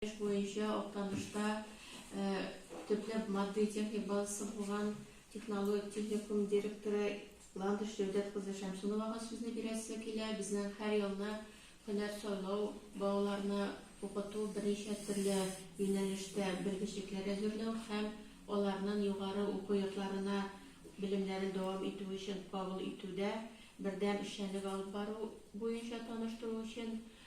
Эш буенча Актанышта төпләп матди-техник базасы булган технологик техникум директоры Ландыш Җәүдәт кызы Шәмсуновага сүзне бирәсе килә. Безнең һәр елны һөнәр сайлау, балаларны укыту, берничә төрле юнәлештә белгечлекләр әзерләү һәм аларнын югары уку йортларына белемнәрен дәвам итү өчен кабул итүдә бердәм эшчәнлек алып бару буенча таныштыру өчен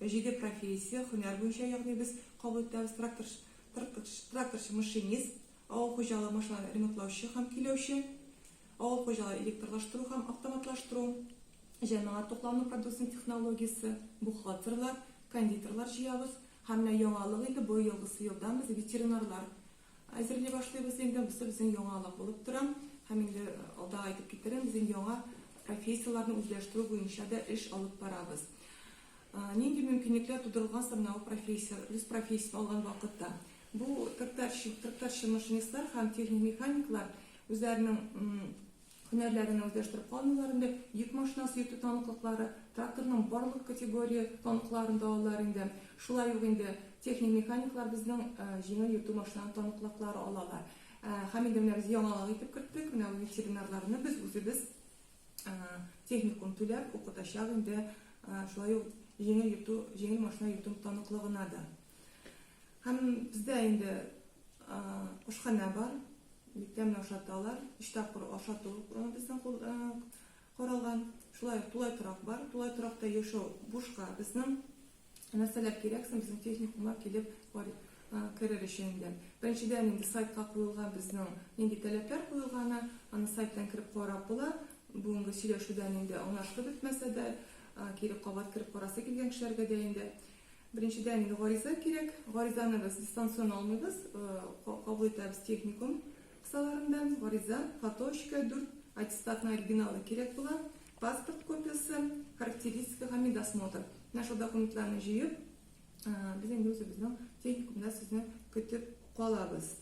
Җиде профессия, һөнәр буенча, ягъни без кабул итәбез, тракторчы, тракторчы, машинист, авыл хуҗалыгы машиналарын ремонтлаучы һәм көйләүче, авыл хуҗалыгы электрлаштыру һәм автоматлаштыру, җәмәгать туклану продукциясенең технологиясе, бухгалтерлар, кондитерлар җыябыз һәм менә яңалык инде бу елгысы елдан без ветеринарлар Әзерли башлыйбыз инде, монысы безнең яңалык булып тора һәм инде алда әйтеп китерәм, без инде яңа профессияләрне үзләштерү буенча да эш алып барабыз. Нинди мөмкинлекләр тудырылган саннау профессия, үз профессиясен алган вакытта? Бу тракторчы, тракторчы машинистлар һәм техник механиклар үзләренең Һөнәрләренә үзләштереп калмыйлар инде, йөк машинасы йөртү таныклыклары, тракторның барлык категория таныкларын да алалар инде. Шулай ук инде техник-механиклар безнең җиңел йөртү машинаның таныклыклары алалар. Һәм инде менә без яңалык итеп керттек, менә ветеринарларны без үзебез техникум түләп укытачак инде, шулай ук җиңел йөртү, җиңел машина йөртү таныклыгына да. Һәм бездә инде ашханә бар, бик тәмле ашаталар, өч тапкыр ашату безнең каралган. Шулай ук тулай торак бар, тулай торакта яшәү бушка безнең. Нәрсәләр кирәк соң безнең техникумга килеп керер өчен инде? Беренчедән инде сайтка куелган безнең нинди таләпләр куелганы, аны сайттан кереп карап була. Бүгенге сөйләшүдән инде аңлашылып бетмәсә дә, кире кабат кереп карасы килгән кешеләргә дә инде. Беренчедән, гариза кирәк. Гаризаны без дистанцион алмыйбыз, кабул итәбез техникум кысаларында. Гариза, фотоочка, дүрт аттестатның оригиналы кирәк була, паспорт копиясе, характеристика һәм медосмотр. Менә шул документларны җыеп, без инде үзебезнең техникумда сезне көтеп калабыз.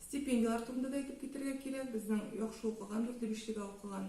Стипендияләр турында да әйтеп китәргә кирәк. Безнең яхшы укыган, дүртле-бишлегә укыган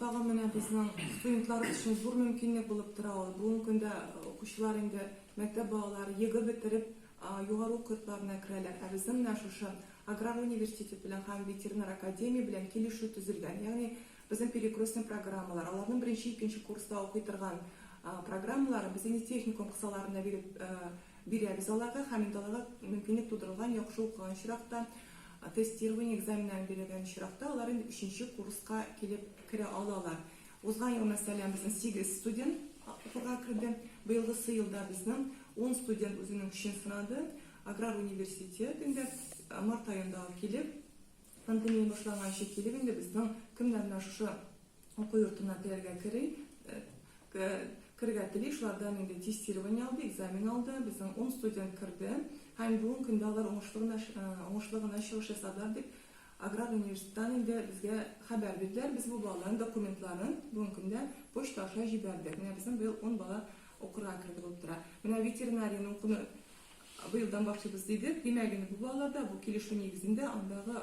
Тагын менә безнең студентлар өчен зур мөмкинлек булып тора ул. Бүгенге көндә укучылар инде мәктәп балалары ЕГЭ бетереп, югары уку йортларына керәләр. Ә безнең менә шушы Аграр университеты белән һәм Ветеринар академия белән килешү төзелгән. Ягъни безнең перекрестный программалар, аларның беренче, икенче курста укый торган программаларын без инде техникум кысаларында биреп бирәбез аларга һәм инде аларга мөмкинлек тудырылган яхшы укыган чиракта Тестирование экзаменнарын бирелгән очракта, алар инде өченче курска килеп керә алалар. Узган ел, мәсәлән, безнең сигез студент укырга керде. Быелгысы елда безнең ун студент үзенең көчен сынады. Аграр университетында март аенда килеп, пандемия башланганчы килеп инде безнең кемнәр менә шушы Уку йортына теләргә кери, керергә тели, шулардан инде тестирование алды, экзамен алды, безнең ун студент керде һәм бүгенге көндә алар уңышлы гына, уңышлы гына чыгыш ясадылар, дип Аграр университеттан инде безгә хәбәр бирделәр. Без бу балаларның документларын бүгенге көндә почта аша җибәрдек. Менә безнең быел ун бала укырга керде булып тора. Менә ветеринарияне укуны быелдан башлыйбыз дидек. Димәк, инде бу балалар да бу килешү нигезендә андагы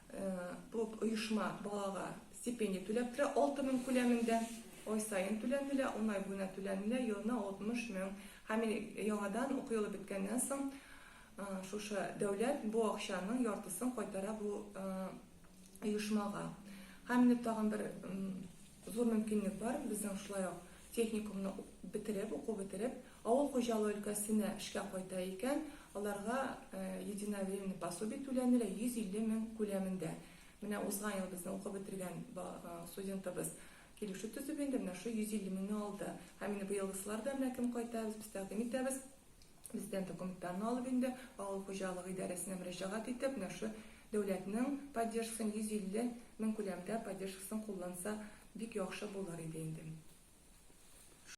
Бу оешма балага стипендия түләп тора, алты мең күләмендә. Ай саен түләнелә, ун ай буена түләнелә, елына алтмыш мең. Һәм яңадан уку елы беткәннән соң шушы дәүләт бу акчаның яртысын кайтара бу оешмага. Һәм менә тагын бер зур мөмкинлек бар, безнең шулай ук Техникумны бетереп, уку бетереп, авыл хуҗалыгы өлкәсенә эшкә кайта икән, аларга единовременный пособие түләнелә, 150 мең күләмендә. Менә узган ел безнең укып бетергән студентыбыз килешү төзеп инде, менә шул 150 меңне алды. Һәм инде быелгысылар да менә кем кайта, без тәкъдим итәбез. Президент документларны алып инде, авыл хуҗалыгы идарәсенә мөрәҗәгать итеп, менә шушы дәүләтнең поддержкасын, 150 мең күләмендә поддержкасын кулланса, бик яхшы булыр иде инде.